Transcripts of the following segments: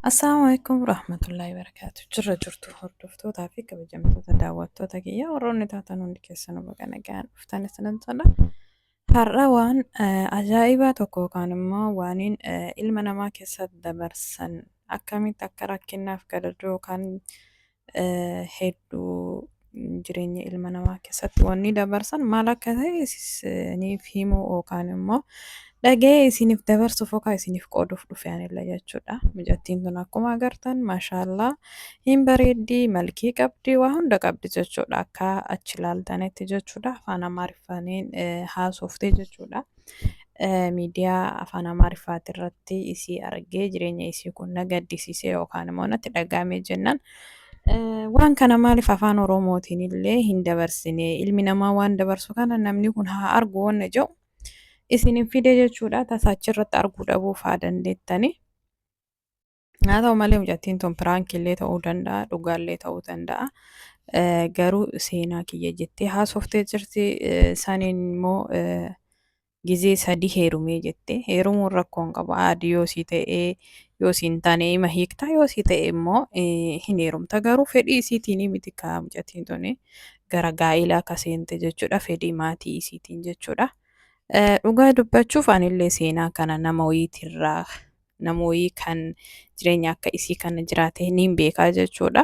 Assalamu alaikum warahmatullahi wabarakatuh. Jirra jirtu hordoftootaa fi kabajamtoota daawwattoota kiyya warroonni taatan hundi keessan baga nagaan dhuftan isinan jedha. Har'a waan eh, ajaa'ibaa tokko yookaan immoo waaniin eh, ilma namaa keessa dabarsan akkamitti akka rakkinaaf gadadoo yookaan hedduu jireenya ilma namaa keessatti wanni dabarsan maal akka ta'e isiniif himuu yookaan immoo dhaga'ee isiniif dabarsuuf yookaan isiniif qooduuf dhufe anillee jechuudha. Mijattiin tun akkuma agartan maashaallaa hin bareeddi malkii qabdi waa hunda qabdi jechuudha akka achi ilaaltanitti jechuudha afaan amaariffaanin haasofte jechuudha. miidiyaa afaan amaariffaati irratti isii argee jireenya isii kun na gaddisiisee yookaan immoo natti dhaga'amee jennaan waan kana maaliif afaan oromootiin illee hin dabarsine ilmi namaa waan dabarsu kana namni kun haa argu wanna jedhu isin hin fide jechuudha tasaa achirratti arguu dhabuuf haa dandeettani. Haa ta'u malee mucattiin tun piraankiillee ta'uu danda'a dhugaallee ta'uu danda'a. Eh, Garuu seenaa kiyya jettee haasoftee jirti. Eh, Saniin immoo eh, gizee sadii heerumee jette. Heerumuun rakkoo hin qabu. Aadi yoo sii ta'ee yoo siin taane ima hiikta yoo sii ta'e immoo eh, hin heerumta. Garuu fedhii isiitiin miti kaa mucattiin tun gara gaa'ilaa akka seente jechuudha. Fedhii maatii isiitiin jechuudha. Eh, Dhugaa dubbachuuf anillee seenaa kana nama wayiitirraa namooyii kan jireenya akka isii kana jiraate niin beekaa jechuudha.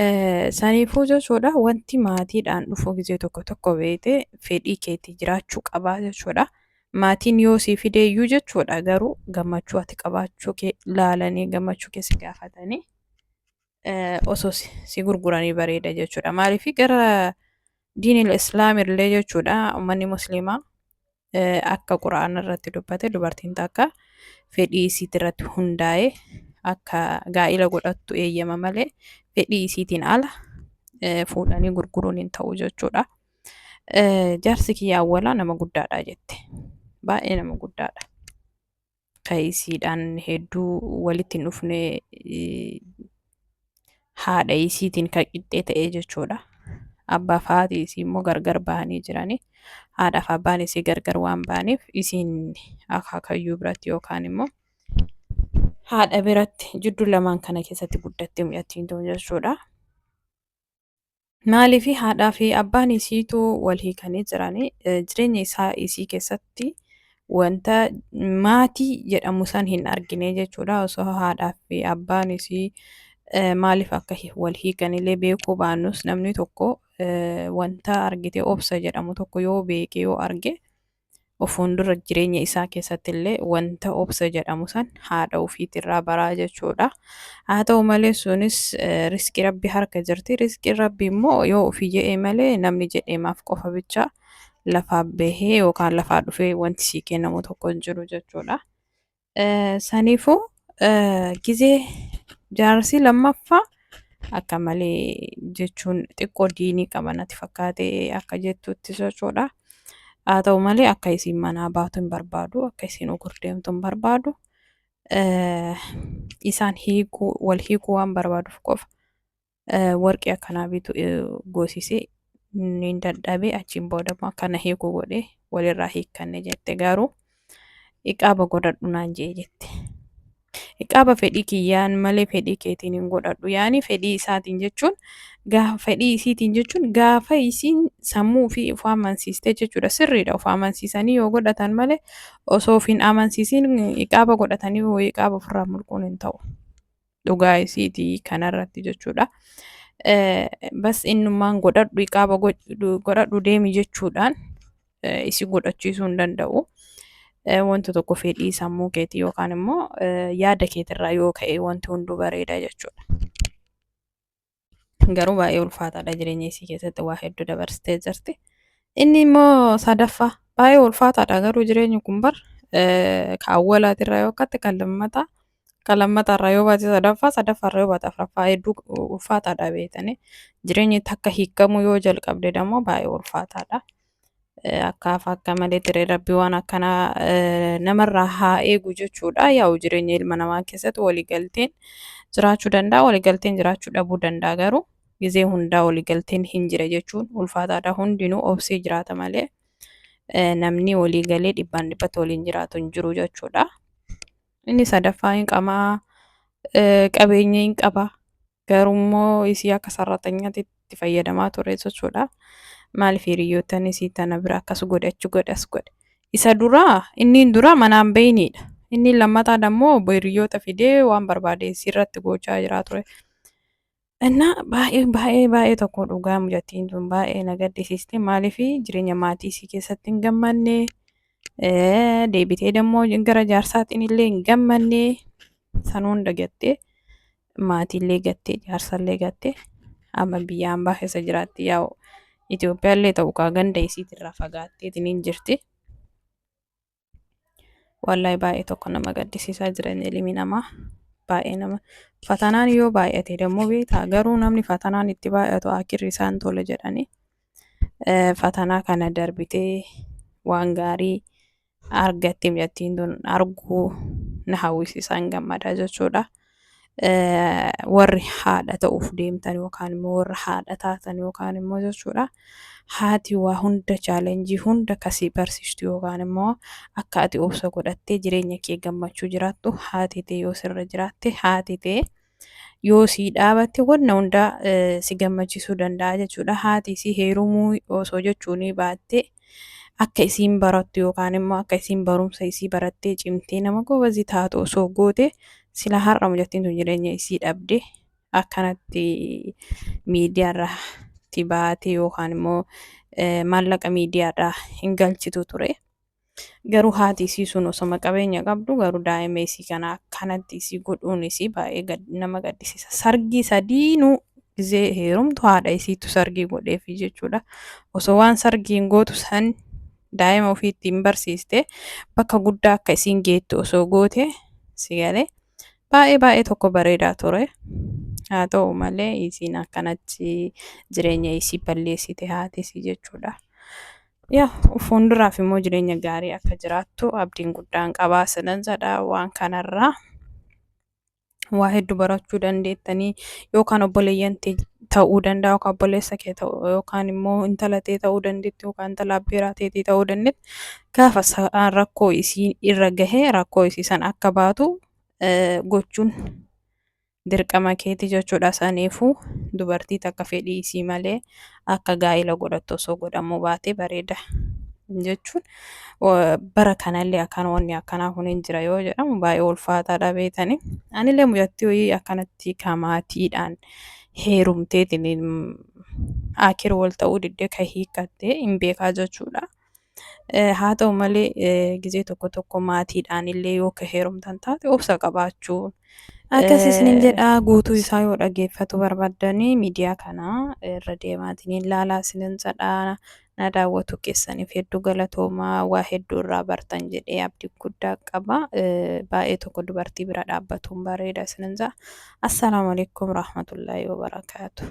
Eh, Saniifuu jechuudha wanti maatiidhaan dhufuu gizee tokko tokko beete fedhii keetii jiraachuu qabaa jechuudha. Maatiin yoo sii fideeyyuu jechuudha garuu gammachuu ati qabaachuu kee laalanii gammachuu kee si gaafatanii eh, osoo si si gurguranii bareeda jechuudha. Maaliif gara diinil islaam illee jechuudha uummanni musliimaa akka quraana irratti dubbate dubartiin takka fedhii isiit irratti hundaa'e akka gaa'ila godhattu eeyyama malee fedhii isiitiin ala fuudhanii gurguruun hin ta'u jechuudha. Jaarsi kiyya awwalaa nama guddaadha jette. Baay'ee nama guddaadha. isiidhaan hedduu walitti hin dhufne haadha isiitiin kan qixxee ta'ee jechuudha. Abbaa fi haati isii immoo gargar bahanii jiranii. Haadha fi abbaan isii gargar waan bahaniif isiin akaakayyuu biratti yookaan immoo haadha biratti jidduu lamaan kana keessatti guddattee mucattiin tun jechuudha. Maaliif haadhaa fi abbaan isiitu wal hiikanii jiran jireenya isaa isii keessatti wanta maatii jedhamu san hin argine jechuudha. Osoo haadhaa fi abbaan isii maaliif akka wal hiikanillee beekuu baannus namni tokko wanta argite obsa jedhamu tokko yoo beeke yoo arge ofuun dura jireenya isaa keessatti illee wanta obsa jedhamu san haadha ofiitirraa baraa jechuudha. Haa ta'u malee sunis riskii rabbi harka jirti. Riskiin rabbi immoo yoo ofii jedhee malee namni jedheemaaf qofa bicha lafaa bahee yookaan lafaa dhufee wanti sii kennamu tokko hin jiru jechuudha. Saniifuu gizee jaarsii lammaffaa akka malee jechuun xiqqoo diinii qaba natti fakkaate akka jettutti jechuudha. Haa ta'u malee akka isiin manaa baatu hin barbaadu, akka isiin ugur deemtu hin barbaadu. Isaan hiikuu, wal hiikuu waan barbaaduuf qofa. warqii akkanaa bitu goosise ni dadhabe achiin booda immoo akkana hiikuu godhe walirraa hiikkanne jette garuu iqaaba godhadhu naan jee jette. Iqaaba fedhii kiyyaan malee fedhii keetiin hin godhadhu yaani fedhii isaatiin jechuun gaafa fedhii isiitiin jechuun gaafa isiin sammuu fi of amansiiste jechuudha sirriidha of amansiisanii yoo godhatan malee osoo of hin amansiisiin iqaaba godhatanii iqaaba ofirraa mulquun hin ta'u. dhugaa isiiti kanarratti jechuudha. Eh, Bas innummaan godhadhu iqaaba godhu- godhadhu deemi jechuudhaan eh, isi godhachiisuu hin danda'u. Eh, Wanta tokko fedhii sammuu keetii yookaan immoo eh, yaada keetirraa yoo ka'e wanti hunduu bareeda jechuudha. Garuu baay'ee ulfaataadha jireenya isii keessatti waa hedduu dabarsitee jirti. Inni immoo sadaffaa baay'ee ulfaataadha garuu jireenyi kun bar kaawwalaatirraa yoo akkaatti kan lammataa kan lammataarraa yoo baate sadaffaa sadaffaarraa yoo baate afraffaa hedduu ulfaataadha beektanii jireenyi takka hiikamuu yoo jalqabde immoo baay'ee ulfaataadha. Akkaaf akka malee tiree rabbi waan akkanaa eh, namarraa haa eegu jechuudha. Yaa'u jireenya ilma namaa keessatti waliigalteen jiraachuu danda'a, waliigalteen jiraachuu dhabuu danda'a garuu gizee hundaa waliigalteen hin jira jechuun ulfaataadha. Hundinuu obsee jiraata malee eh, namni waliigalee dhibbaan dhibbatti waliin jiraatu hin jiru jechuudha. Inni sadaffaa hin qamaa, eh, qabeenya hin qaba. Garuu immoo isii akka sarratanyatti itti fayyadamaa ture jechuudha. Maaliif hiriyyootan isii tana bira akkas godhe achi godhe as godhe. Isa duraa inni duraa manaan beeyniidha. Inni lammataan ammoo obbo hiriyyoota fidee waan barbaade isii irratti gochaa jiraa ture. Innaa baay'ee baay'ee baay'ee tokko dhugaa mucattiin tun baay'ee na gaddisiiste maaliif jireenya maatii isii keessatti hin gammanne eh, deebitee dammoo gara jaarsaatiin illee hin gammanne san hunda gattee maatiillee gattee jaarsallee gattee amma biyya ambaa keessa jiraatti yaa'u Itoophiyaallee ta'u kaa ganda isiitirraa fagaatteetiniin jirti. Wallahi baay'ee tokko nama gaddisiisaa jiran ilmi namaa baay'ee nama fatanaan yoo baay'ate dammoo beektaa garuu namni fatanaan itti baay'atu akirri isaan tola jedhanii fatanaa kana darbitee waan gaarii argatte mucattiin tun arguu na hawwisiisaan gammadaa jechuudha. Warri haadha ta'uuf deemtan yookaan immoo warra haadha taatan yookaan immoo jechuudha. Haati waa hunda chaalenjii hunda kasii barsiistu yookaan immoo akka ati obsa godhattee jireenya kee gammachuu jiraattu haati tee yoo sirra jiraatte haati tee. yoo sii dhaabatte wanna hunda si gammachiisuu danda'a jechuudha. Haati isii heerumuu osoo jechuunii baatte akka isiin barattu yookaan immoo akka isiin barumsa isii barattee cimtee nama goobazii taatu osoo goote sila har'a mucattiin tun jireenya isii dhabde akkanatti miidiyaarratti baate yookaan immoo maallaqa miidiyaadhaa hin galchitu ture. Garuu haati isii sun osoma qabeenya qabdu garuu daa'ima isii kana akkanatti isii godhuun isii baay'ee nama gaddisiisa. Sargii sadiinuu gizee heerumtu haadha isiitu sargii godheefi jechuudha. Osoo waan sargiin gootu san daa'ima ofii ittiin barsiiste bakka guddaa akka isiin geettu osoo goote si galee baay'ee baay'ee tokko bareedaa ture. Haa ta'u malee isiin akkanatti jireenya isii balleessite haati isii jechuudha. Yaa fuulduraaf immoo jireenya gaarii akka jiraattu abdiin guddaan qabaa sinan jedha waan kanarraa waa hedduu barachuu dandeettanii yookaan obboleeyyan tee ta'uu danda'a yookaan obboleessa kee ta'uu yookaan immoo intala tee ta'uu dandeetti yookaan intala abbeeraa teetii ta'uu dandeetti gaafa sa'aan rakkoo isii irra gahee rakkoo isii san akka baatu eh, gochuun dirqama keeti jechuudha saniifu dubartii takka fedhii isii malee akka gaa'ila godhattu osoo godhamuu baate bareeda jechuun wa- bara kanallee akkaan wanni akkanaa kun hin jira yoo jedhamu baay'ee ulfaataadha beetani anillee mucattii hoyii akkanatti ka maatiidhaan heerumteetiin akir wal ta'uu diddee ka hiikkattee hin beekaa jechuudha Haa ta'u malee gizee tokko tokko maatiidhaan illee yoo ka heerumtan taate obsa qabaachuun Akkas isinin jedha guutuu isaa yoo dhaggeeffatu barbaddanii miidiyaa kana irra deemaatiin hin laalaa isinin jedha na daawwatu keessaniif hedduu galatoomaa waa hedduu irraa bartan jedhee abdii guddaa qaba baay'ee tokko dubartii bira dhaabbatuun bareeda isinin jedha assalaamu alaikum rahmatullaahi wabarakaatu.